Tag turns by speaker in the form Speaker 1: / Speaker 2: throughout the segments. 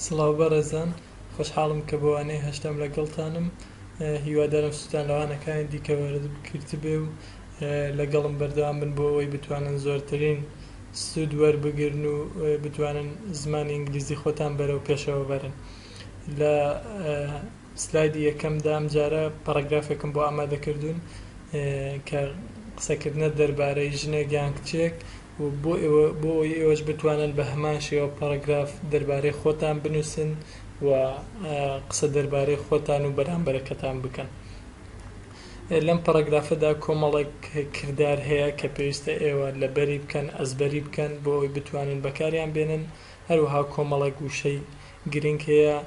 Speaker 1: سڵاو بەڕێزان خۆشحاڵم کە بۆ وانەی هەشتەم لەگەڵتانم هیوادارم سوودتان لە وانەکانی دیکە وەرگرتبێ و لەگەڵم بەردەوام بن بۆ ئەوەی بتوانن زۆرترین سوود وەربگرن و بتوانن زمانی ئینگلیزی خۆتان بەرەو پێشەوە بەرن لە سلایدی یەکەمدا ئەمجارە پەڕەگرافێکم بۆ ئامادە کردوون کە قسەکردنە دەربارەی ژنێک یان کچێک بۆ ئەوەی ئێوەش بتوانن بە هەمان شێوە پاراگراف دەربارەی خۆتان بنووسن و قسە دەربارەی خۆتان و بەرامبەرەکەتان بکەن. لەم پاراگرافەدا کۆمەڵێک کردار هەیە کە پێویستە ئێوە لەبەری بکەن، ئەزبەری بکەن بۆ ئەوەی بتوانن بەکاریان بێنن. هەروەها کۆمەڵێک وشەی گرنگ هەیە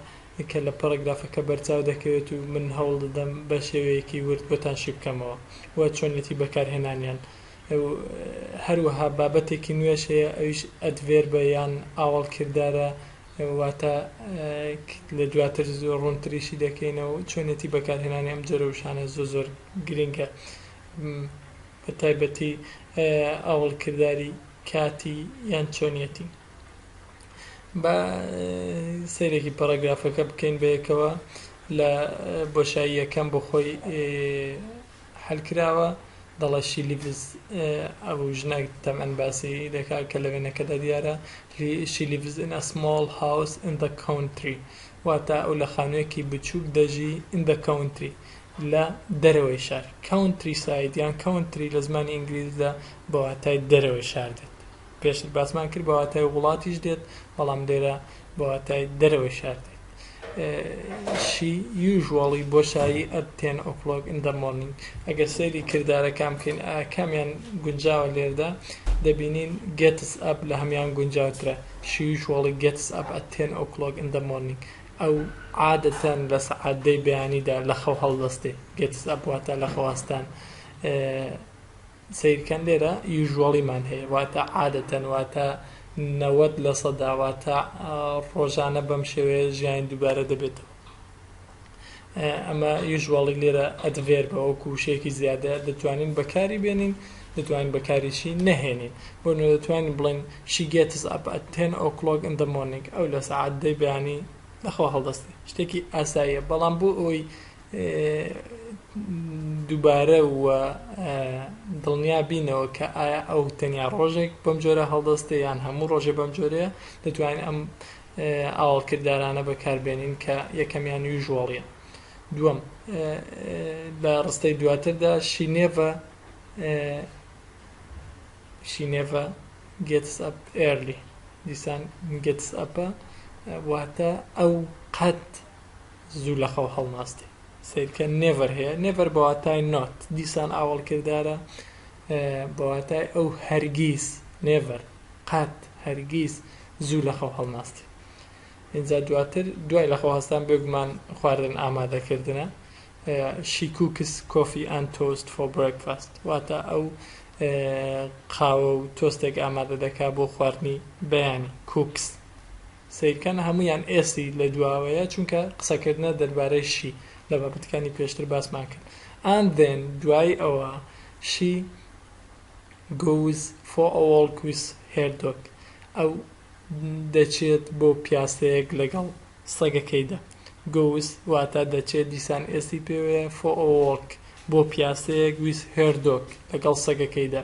Speaker 1: کە لە پاراگرافەکە بەرچاو دەکەوێت و من هەوڵ دەدەم بە شێوەیەکی ورد بۆتان شی بکەمەوە و چۆنیەتی بەکارهێنانیان و هەروەها بابەتێکی نوێش هەیە ئەویش ئەدڤێربە یان ئاوەڵ کردارە واتە لە دواتر زۆر ڕوونتریشی دەکەینە و چۆنێتی بەکارهێنانی ئەم جۆرە وشانە زۆر زۆر گرنگە بە تایبەتی ئاوەڵ کرداری کاتی یان چۆنیەتی بە سەیرێکی پەراگرافەکە بکەین بەیەکەوە لە بۆشاییەکەم بۆ خۆی حل کراوە دەڵێت شی لیڤز ئەو ژنە تەمەن باسی دەکات کە لە وێنەکەدا دیارە شی لیڤز ئین ئە سمۆڵ هاوس ئین دە کاونتری واتە ئەو لە خانوویەکی بچووک دەژی ئین دە کاونتری لە دەرەوەی شار کاونتری ساید یان کاونتری لە زمانی ئینگلیزدا بە واتای دەرەوەی شار دێت. پێشتر باسمان کرد بە واتای وڵاتیش دێت بەڵام لێرە بە واتای دەرەوەی شار دێت شی یوژواڵی بۆ شایی ئەت تێن ئۆکلۆک ئین دە مۆرنینگ ئەگەر سەیری کردارەکان بکەین ئایا کامیان گونجاوە لێردا دەبینین گێتس ئەپ لە هەمان گونجاوترە شی یوژواڵی گێتس ئەپ ئەت تێن ئۆکلۆک ئین دە مۆرنینگ ئەو عادەتەن لە سەعات دەی بەیانیدا لە خەو هەڵدەستێ گێتس ئەپ واتە لە خەواستان سەیرکەن لێرە یوژوەڵیمان هەیە واتە عادەتەن واتە نەوەد لە سەدا واتە ڕۆژانە بەم شێوەیە ژیانی دووبارە دەبێتەوە ئەمە یوژوەڵی لێرە ئەدڤێربە وەکو وشەیەکی زیادە دەتوانین بەکاری بێنین دەتوانین بەکاریشی نەهێنین بۆ نوێ دەتوانین بڵێن شیگێتز ئەپ ئەتێن ئۆکلۆگ ئەندە مۆنیک ئەو لە سەعات دەی بەیانی لەخوا هەڵدەستێ شتێکی ئاساییە بەڵام بۆ ئەوی دووبارە و دڵنیا بینەوە کە ئایا ئەو تەنیا ڕۆژێک بەم جۆرە هەڵدەستێ یان هەموو ڕۆژێ بەم جۆرەیە دەتوانین ئەم ئاوەڵکردارانە بەکاربێنین کە یەکەمیان یوژوەڵیە دووەم لە ڕستەی دواتردا شینێڤە شینێڤە گتس ئەپ ئێرلی دیسان گتس ئەپە واتە ئەو قەت زوو لە خەو هەڵناستێ سەیرکە نێڤەر هەیە نێڤەر بەواتای نۆت دیسان ئاوەڵ کردارە بەواتای ئەو هەرگیز نێڤەر قات هەرگیز زوو لە خەو هەڵناستێ اینجا دواتر دوای لە خۆهستان بێگومان خواردن ئامادەکردنە شیکوکس کۆفی ئەن تۆست فۆ برێکفاست واتە ئەو قاوە و تۆستێک ئامادە دەکا بۆ خواردنی بەیانی کوکس سەیرکەن هەموویان ئێستی لە دواوەیە چونکە قسەکردنە دەربارەی شی لە بابەتەکانی پێشتر باسمان کرد and then دوای ئەوە she goes for a walk with her dog ئەو دەچێت بۆ پیاسەیەک لەگەڵ سەگەکەیدا goes واتا دەچێت دیسان ئێستی پێوەیە for a walk بۆ پیاسەیەک with her dog لەگەڵ سەگەکەیدا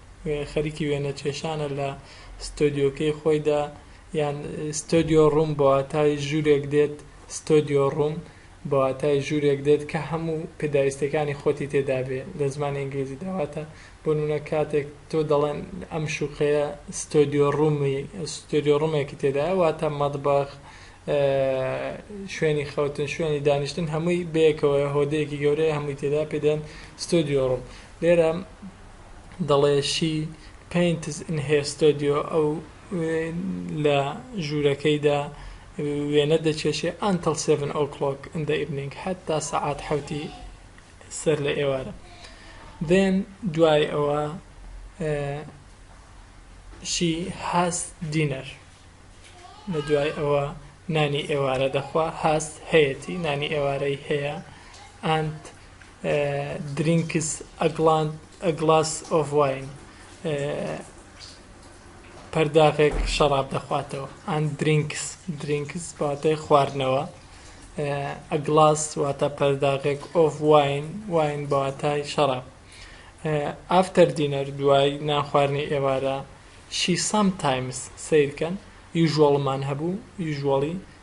Speaker 1: خەریکی وێنە کێشانە لە ستۆدیۆکەی خۆیدا یان ستۆدیۆ ڕووم بە واتای ژوورێک دێت ستۆدیۆ ڕووم بە واتای ژوورێک دێت کە هەموو پێداویستیەکانی خۆتی تێدا بێ لە زمانی ئینگلیزی داواتە بۆ نونە کاتێک تۆ دەڵێن ئەم شوقەیە ستۆدیۆ ڕوومی ستۆدیۆ ڕوومێکی تێدا واتە مەدبەخ شوێنی خەوتن شوێنی دانیشتن هەمووی بەیەکەوە هۆدەیەکی گەورەیە هەمووی تێدا پێدەن ستۆدیۆ ڕووم لێرە دەڵێ شی پەینتس ان هێر ستۆدیۆ، ئەو لە ژوورەکەیدا وێنە دەکێشێ، ئانتڵ سێڤن ئۆ کڵۆک ان دە ئیڤنینگ، هەتا سەعات حەوتی سەر لە ئێوارە. دێن دوای ئەوە شی هاس دینەر، لە دوای ئەوە نانی ئێوارە دەخوا، هاس هەیەتی، نانی ئێوارەی هەیە، ئانت درینکس ئە گڵاس ئۆف واین، پەرداخێک شەڕاب دەخواتەوە. ئەند درینکس، Drinks، بە واتای خواردنەوە. ئە گڵاس واتە پەرداخێک ئۆف واین، واین بە واتای شەڕاب. ئافتەر دینەر، دوای نانخواردنی ئێوارە. شی سام تایمس، سەیرکەن، یوژوەڵمان هەبوو، یوژوەڵی،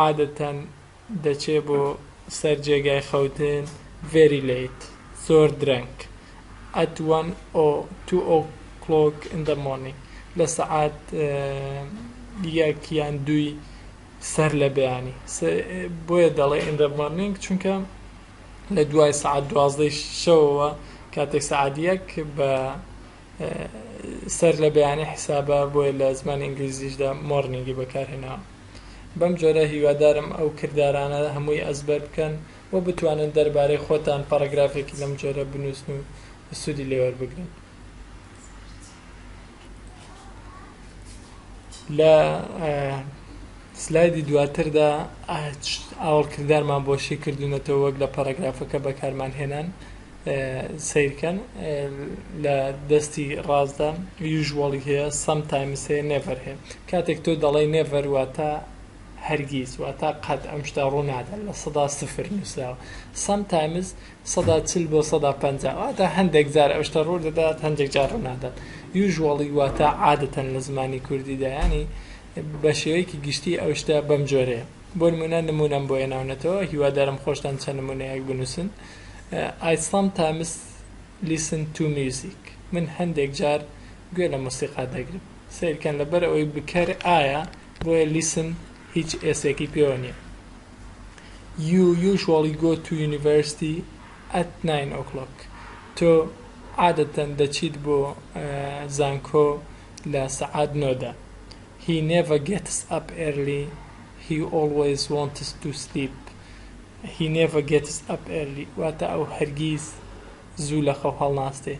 Speaker 1: عادەتەن دەچێ بۆ سەر جێگای خەوتن very late زۆر درەنگ at one o two o clock in the morning لە سەعات یەک یان دووی سەر لە بەیانی بۆیە دەڵێ in the morning چونکە لە دوای سعات دوازدەی شەوەوە کاتێک سعات یەک بە سەر لە بەیانی حیسابە بۆیە لە زمانی ئینگلیزیشدا مۆرنینگی بەکارهێناوە بەم جۆرە هیوادارم ئەو کردارانە هەمووی ئەزبەر بکەن و بتوانن دەربارەی خۆتان پەڕەگرافێکی لەم جۆرە بنووسن و سوودی لێ وەربگرن. لە سلایدی دواتردا ئاوەڵکردارمان بۆ شی کردوونەتەوە وەک لە پەڕەگرافەکە بەکارمان هێنان. سەیر کەن لە دەستی ڕاستدا usually هەیە sometimes هەیە never هەیە کاتێک تۆ دەڵێی never واتە هەرگیز واتە قەت ئەم شتە ڕوو نادەن لە سەدا سفر نووسراوە sometimes سەدا چل بۆ سەدا پەنجا واتە هەندێک جار ئەو شتە ڕوو دەدات هەندێک جار ڕوو نادات usually واتە عادەتەن لە زمانی کوردیدا ینی بە شێوەیەکی گشتی ئەو شتە بەم جۆرەیە بۆ نمونە نمونەم بۆ هێناونەتەوە هیوادارم خۆشتان چەند نمونەیەک بنووسن ئای سام تایمس لیسن تو میوزیک من هەندێک جار گوێ لە مۆسیقا دەگرم سەیر کەن لەبەر ئەوەی بکەر ئایە بۆیە لیسن هیچ ئێسێکی پێوە نیە یو یوژواڵی گۆ تو یونیڤەرستی ئەت ناین ئۆکڵۆک تۆ عادەتەن دەچیت بۆ زانکۆ لە سەعات نۆ دا هی نێڤە گێتس ئەپ ئێرلی هی ئۆڵوەیز وۆنتس تو سلیپ He never gets up early واتە ئەو هەرگیز زوو لە خەو هەڵناستێ.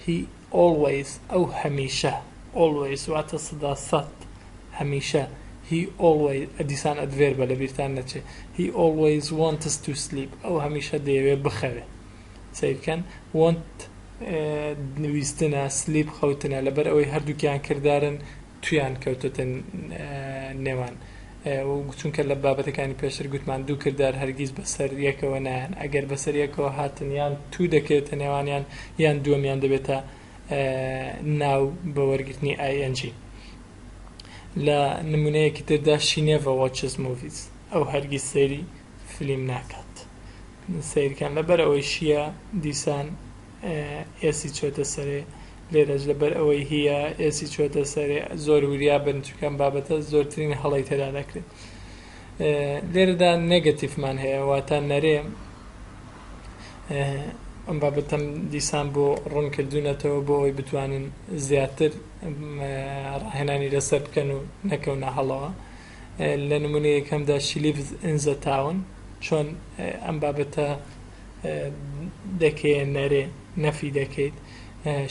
Speaker 1: He always ئەو هەمیشە always واتە سدا سەد هەمیشە He always دیسان ئەدڤێربە لەبیرتان نەچێ He always wants to sleep ئەو هەمیشە دەیەوێ بخەوێ سەیر بکەن want ویستنە sleep خەوتنە لەبەر ئەوەی هەردووکیان کردارن تویان کەوتۆتە نێوان چونکە لە بابەتەکانی پێشتر گوتمان دوو کردار هەرگیز بەسەر یەکەوە نایەن ئەگەر بەسەر یەکەوە هاتن یان تو دەکەوێتە نێوانیان یان دووەمیان دەبێتە ناو بە وەرگرتنی ING لە نمونەیەکی تردا she never watches movies ئەو هەرگیز سەیری فلیم ناکات سیرکان لەبەر ئەوەی شیە دیسان ئێسی چۆتە سەرێ لێرەش لەبەر ئەوەی هیە ئێسی چۆتە سەرێ زۆر وریا بن چونکە ئەم بابەتە زۆرترین هەڵەی تێدا دەکرێت لێرەدا نێگەتیفمان هەیە واتە نەرێ ئەم بابەتەم دیسان بۆ ڕوون کردوونەتەوە بۆ ئەوی بتوانن زیاتر ڕاهێنانی لەسەر بکەن و نەکەونە هەڵەوە لە نمونەیەکەمدا شلیف ئنزە تاون چۆن ئەم بابەتە دەکێ نەرێ نەفی دەکەیت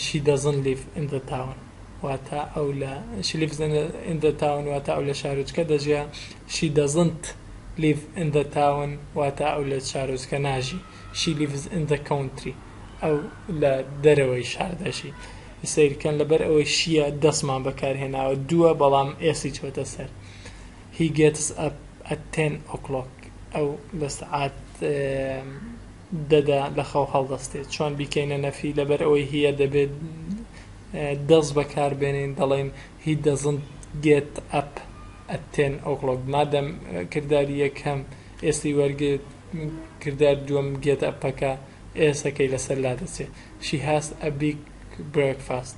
Speaker 1: شی دەزن لیف ئندە تاون واتە ئەو لە شلیف ئندە تاون واتە ئەو لە شارۆچکە دەژیا شی دەزنت لیف ئندە تاون واتە ئەو لە شارۆچکە ناژی شی لیفز ئندە کەونتری ئەو لە دەرەوەی شار دەژی سیرکەن لەبەر ئەوەی شیە دەستمان بەکارهێناوە دووە بەڵام ئێسی چۆتە سەر He gets up at ten o'clock ئەو لە سەعات دەدا لە خەو هەڵدەستێت. چۆن بیکەینە نەفی؟ لەبەر ئەوەی هیە دەبێت does بەکار بێنین دەڵێین He doesn't get up at ten o'clock مادەم کرداری یەکەم s ی وەرگرت کردار دووەم get up ەکە s ەکەی لەسەر لادەچێت She has a big breakfast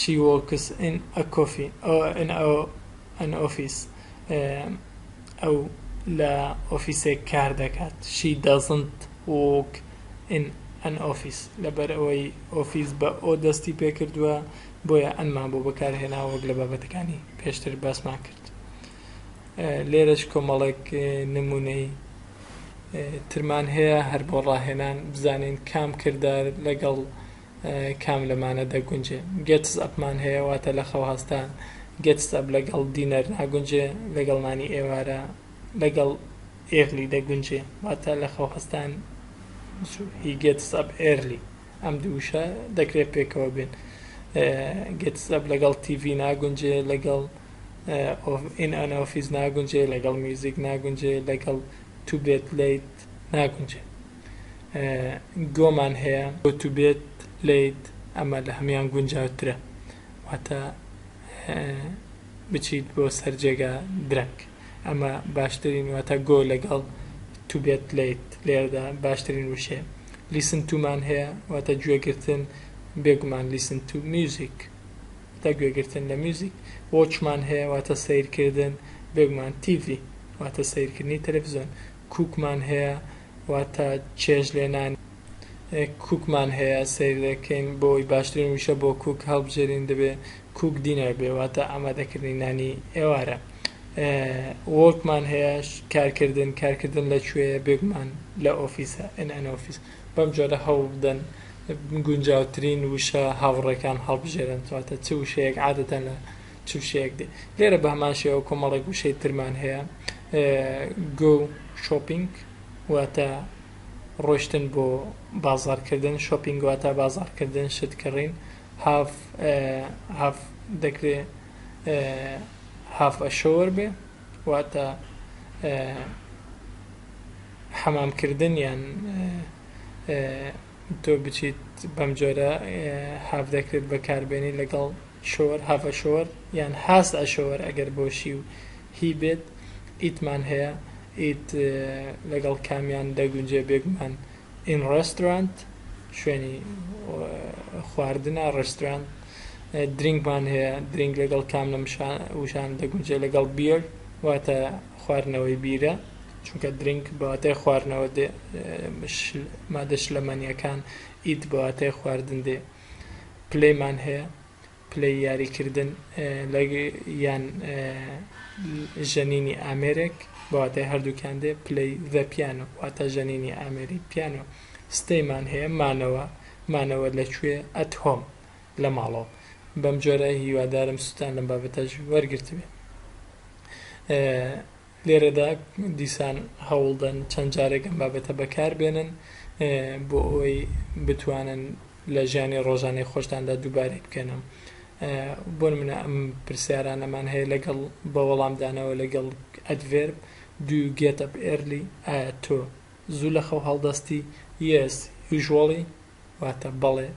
Speaker 1: She works in a coffee in an office ئەو لە ئۆفیسێک کار دەکات She doesn't work in an office لەبەر ئەوەی ئۆفیس بە ئۆ دەستی پێ کردووە بۆیە ئەنمان بۆ بەکارهێنا وەک لە بابەتەکانی پێشتر باسمان کرد لێرەش کۆمەڵێک نمونەی ترمان هەیە هەر بۆ ڕاهێنان بزانین کام کردار لەگەڵ کام لەمانە دەگونجێ؟ گێتس ئەپمان هەیە واتە لە خەو هەستان، گێتس ئەپ لەگەڵ دینەر ناگونجێ، لەگەڵ نانی ئێوارە، لەگەڵ ئێرلی دەگونجێ واتە لە خەو هەستان زوو، هی گێتس ئەپ ئێرلی ئەم دوو وشە دەکرێ پێکەوە بێن. گێتس ئەپ لەگەڵ تیڤی ناگونجێ، لەگەڵ ئین ئەن ئۆفیس ناگونجێ، لەگەڵ میوزیک ناگونجێ، لەگەڵ تو بێت لەیت ناگونجێ. گۆمان هەیە گۆتوبێت لەیت ئەمە لە هەمیان گونجاوترە واتە بچیت بۆ سەر جێگا درەنگ ئەمە باشترین واتە گۆ لەگەڵ توبێت لەیت لێردا باشترین وشێ لیسن تومان هەیە واتە گوێگرتن بێگومان لیسن تو میوزیک تا گوێگرتن لە میوزیک وۆچمان هەیە واتە سیرکردن بێگومان تیڤی واتە سیرکردنی تەلەڤزیۆن کوکمان هەیە واتە چێژ لێنان. کوکمان هەیە سەیر دەکەین بۆ ئەوەی باشترین وشە بۆ کوک هەڵبژێرین دەبێ کوک دینەر بێ واتە ئامادەکردنی نانی ئێوارە. وۆرکمان هەیە کارکردن کارکردن لە کوێیە بێگومان لە ئۆفیسە in an office. بەم جۆرە هەوڵبدەن گونجاوترین وشە هاوڕێکان هەڵبژێرن واتە چ وشەیەک عادەتەن لە چ وشەیەک دێ لێرە بە هەمان شێوە کۆمەڵێک وشەی ترمان هەیە گو شۆپینگ واتە ڕۆشتن بۆ بازارکردن شۆپینگ واتە بازارکردن شت کڕین هاف هاف دەکرێ هاف ئەشۆوەر بێ واتە حەمامکردن یان تۆ بچیت بەم جۆرە هاف دەکرێت بەکاربێنی لەگەڵ شۆر، have a shower، یان has a shower ئەگەر بۆ شی و هی بێت، ئیت مان هەیە، ئیت لەگەڵ کامیان دەگونجێ بێگومان ئین ڕێستۆرانت شوێنی خواردنە ڕێستۆرانت، درینک مان هەیە، درینک لەگەڵ کام لەم وشانە دەگونجێ لەگەڵ بیەر واتە خواردنەوەی بیرە چونکە درینک بە واتای خواردنەوە دێ مادە شلەمەنییەکان ئیت بە واتای خواردن دێ. پلەیمان هەیە پلەی یاری کردن لە یان ژەنینی ئامێرێک بەواتای هەردووکیان دێ پلەی ذە پیانۆ واتە ژەنینی ئامێری پیانۆ ستەیمان هەیە مانەوە مانەوە لەکوێ ئەت هۆم لە ماڵەوە بەم جۆرە هیوادارم سوتان لەم بابەتەش وەرگرتبێ لێرەدا دیسان هەوڵدەن چەند جارێک ئەم بابەتە بەکاربێنن بۆ ئەوەی بتوانن لە ژیانی ڕۆژانەی خۆشتاندا دووبارەی بکەنەوە بۆ منە ئەم پرسیارانەمان هەیە لەگەڵ بە وەڵامدانەوە لەگەڵ ئەدڤێر دوو گێتە ئێرلی ئایا تۆ زوو لە خەو هەڵدەستی یەس یژوەڵی واتە، بەڵێ،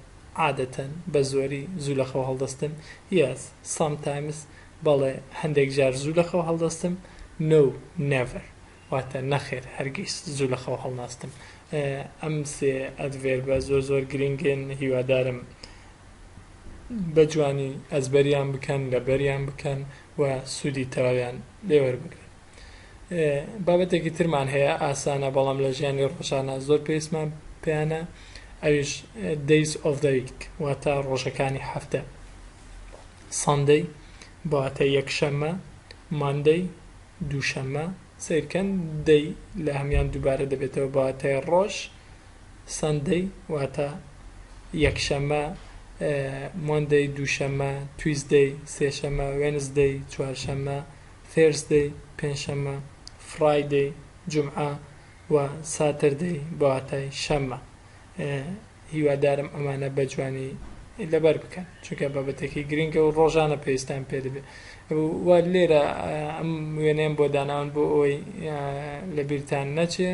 Speaker 1: عادەتەن، بەزۆری، زوو لەخەو هەڵدەستم، Yes، Sometimes، بەڵێ، هەندێکجار زوو لەخەو هەڵدەستم، No، Never، واتە، نەخێر، هەرگیز، زوو لەخەو هەڵناستم. ئەم سێ ئەدڤێربە زۆر زۆر گرینگن، هیوادارم بە جوانی ئەزبەریان بکەن، لەبەریان بکەن و سوودی تەواویان لێوەربگرن. بابەتێکی ترمان هەیە ئاسانە بەڵام لە ژیانی ڕۆژانە زۆر پێویستمان پێیانە ئەویش دەیس ئۆف دەویک واتە ڕۆژەکانی هەفتە ساندەی بەواتە یەکشەممە ماندەی دووشەممە سیرکەن دەی لە هەمان دووبارە دەبێتەوە بەواتای ڕۆژ سندەی واتە یەکشەممە مۆندەی دووشەممە تویزدەی سێشەممە وێنزدەی چوارشەممە Thursday، پێنجشەممە، Friday، جومعە، و، Saturday، بەواتای شەممە. هیوادارم ئەمانە بە جوانی لەبەر بکەن، چونکە بابەتێکی گرنگە و ڕۆژانە پێویستان پێ دەبێ. و لێرە ئەم وێنەیەم بۆ داناون بۆ ئەوەی لەبیرتان نەچێ،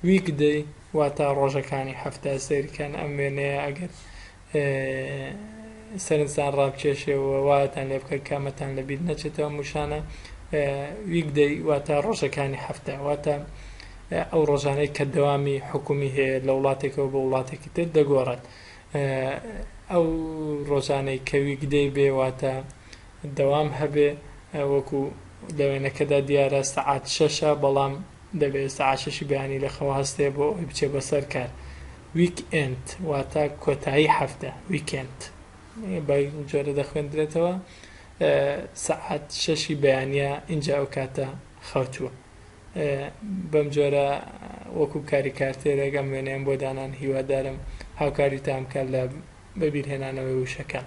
Speaker 1: Weekday، واتا ڕۆژەکانی هەفتە، سەیرکەن ئەم وێنەیە ئەگەر سەرنجتان ڕابکێشێ و وایەتان لێ بکە کامەتان لە بیر نەچێتەوە موشانە ویکدەی واتە ڕۆژەکانی هەفتە واتە ئەو ڕۆژانەی کە دەوامی حکومی هەیە لە وڵاتێکەوە بە وڵاتێکی تر دەگۆڕێت ئەو ڕۆژانەی کە ویکدەی بێ واتە دەوام هەبێ وەکو لە وێنەکەدا دیارە سەعات شەشە بەڵام دەبێ ئێستا عاشەشی بەیانی لە خەو هەستێ بۆ ئەوەی بچێ بەسەر کار ویک ئێند واتە کۆتایی هەفتە ویکێند بەی جۆرە دەخوێندرێتەوە سەعات شەشی بەیانە ئینجا ئەو کاتە خەوتووە بەم جۆرە وەکو کاری کارتێرێک ئەم وێنەیەم بۆ دانان هیوادارم هاوکاریتان بکات لە بەبیرهێنانەوەی وشەکان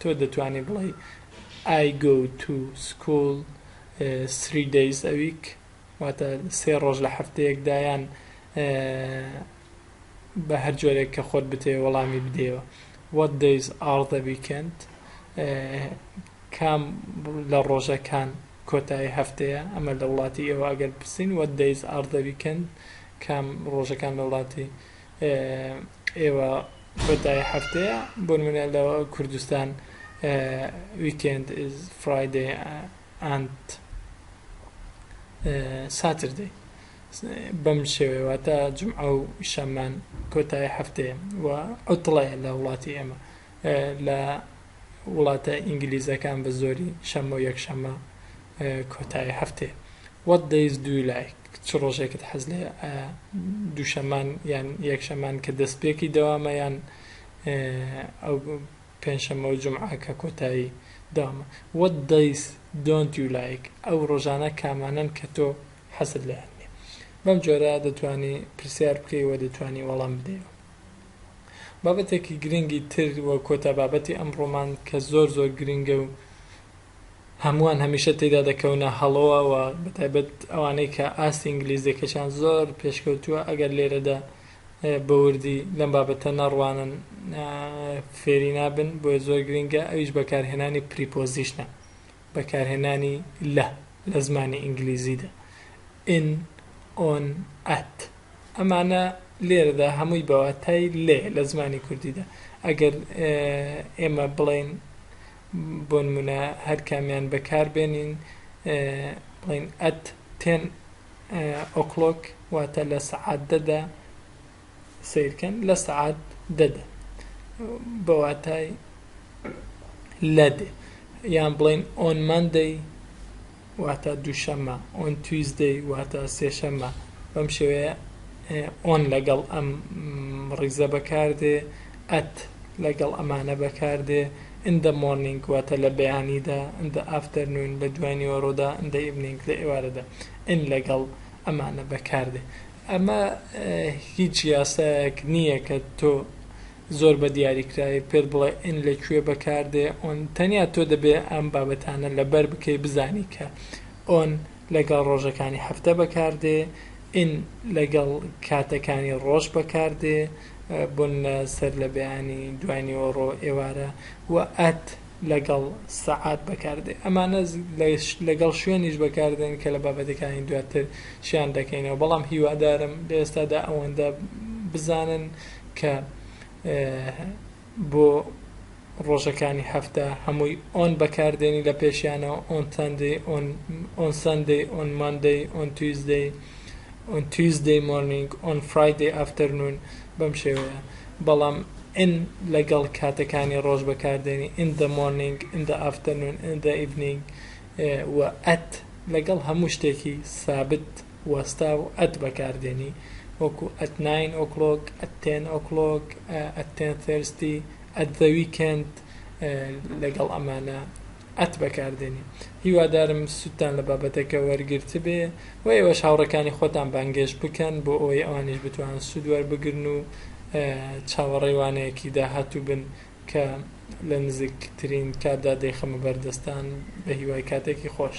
Speaker 1: تۆ دەتوانی بڵێی I go to school three days a week واتە سێ ڕۆژ لە هەفتەیەکدا یان بە هەر جۆرێک کە خۆت بتەوێ وەڵامی بدەیەوە What days are the weekend کام لە ڕۆژەکان کۆتایی هەفتەیە ئەمە لە وڵاتی ئێوە ئەگەر بپرسین What days are the weekend کام ڕۆژەکان لە وڵاتی ئێوە خۆتای هەفتەیە بۆنمونە لە کوردستان ویکێند ئیز فرایدەی ئەند ساتردەی بەم شێوەیە واتە جمعە و شەممان کۆتای هەفتەیە و عوتڵەیە لە وڵاتی ئێمە لە وڵاتە ئینگلیزەکان بە زۆری شەممە و یەکشەممە کۆتایی هەفتەیە What days do you like چ ڕۆژێکت حەز لێ دووشەمان یان یەکشەمان کە دەستپێکی دەوامە یان ئەو پێنجشەممە و جمعە کە کۆتایی دامە What days don't you like ئەو ڕۆژانە کامانن کە تۆ حەزت لێیان نییە بەم جۆرە دەتوانی پرسیار بکەی و دەتوانی وەڵام بدەیەوە بابەتێکی گرنگی تر و کۆتا بابەتی ئەمڕۆمان کە زۆر زۆر گرنگە و هەمووان هەمیشە تێیدا دەکەونە هەڵۆوە و بەتایبەت ئەوانەی کە ئاستی ئینگلیزیەکەشیان زۆر پێشکەوتووە ئەگەر لێرەدا بەوردی لەم بابەتە نەڕوانن فێری نابن بۆیە زۆر گرنگە ئەویش بەکارهێنانی پریپۆزیشنە بەکارهێنانی لە لە زمانی ئینگلیزیدا in on at ئەمانە لێرەدا هەمووی بە واتای لێ لە زمانی کوردیدا ئەگەر ئێمە بڵێین بۆ نمونە هەر کامیان بەکاربێنین بڵین ئەت تێن ئۆکلۆک واتە لە سەعات دەدا سیرکەن لە سەعات دەدا بە واتای لە دێ یان بڵین ئۆن مندەی واتە دووشەممە، On Tuesday واتە سێشەممە، بەم شێوەیە On لەگەڵ ئەم ڕیزە بەکاردێ، At لەگەڵ ئەمانە بەکاردێ، In the morning واتە لە بەیانیدا، In the afternoon لە دوای نیوەڕۆدا، In the evening لە ئێوارەدا، In لەگەڵ ئەمانە بەکاردێ. ئەمە هیچ یاسایەک نییە کە تۆ. زۆر بە دیاری کراوی پێت بڵێ ان لە کوێ بەکار دێ on تەنیا تۆ دەبێ ئەم بابەتانە لەبەر بکەی بزانی کە on لەگەڵ ڕۆژەکانی هەفتە بەکار دێ in لەگەڵ کاتەکانی ڕۆژ بەکار دێ بۆن لە سەر لە بەیانی دوای نیوەڕۆ ئێوارە و at لەگەڵ سەعات بەکار دێ ئەمانە لەگەڵ شوێنیش بەکار دێن کە لە بابەتەکانی دواتر شیان دەکەینەوە بەڵام هیوادارم لە ئێستادا ئەوەندە بزانن کە بۆ ڕۆژەکانی هەفتە هەمووی ئۆن بەکاردێنی لە پێشیانەوە ئۆن تەندی ئۆن سندی ئۆن ماندی ئۆن تویزدەی ئۆن تویزدەی مۆرنینگ ئۆن فرایدی ئافتەرنون بەم شێوەیە بەڵام ئن لەگەڵ کاتەکانی ڕۆژ بەکاردێنی ئین دە مۆرنینگ ئین دە ئافتەرنون ئین دە ئیڤنینگ و ئەت لەگەڵ هەموو شتێکی سابت وەستا و ئەت بەکاردێنی وەکو ئەت ناین ئۆکڵۆک، ئەت تێن ئۆکڵۆک، ئەت تێن ثێرستی، ئەت زە ویکێند لەگەڵ ئەمانە ئەت بەکاردێنی. هیوادارم سوودتان لە بابەتەکە وەرگرتبێ و ئێوەش هاوڕێکانی خۆتان بانگێشت بکەن بۆ ئەوەی ئەوانیش بتوانن سوود وەربگرن و چاوەڕێی وانەیەکی داهاتوو بن کە لە نزیکترین کاتدا دەیخەمە بەردەستتان. بەهیوای کاتێکی خۆش.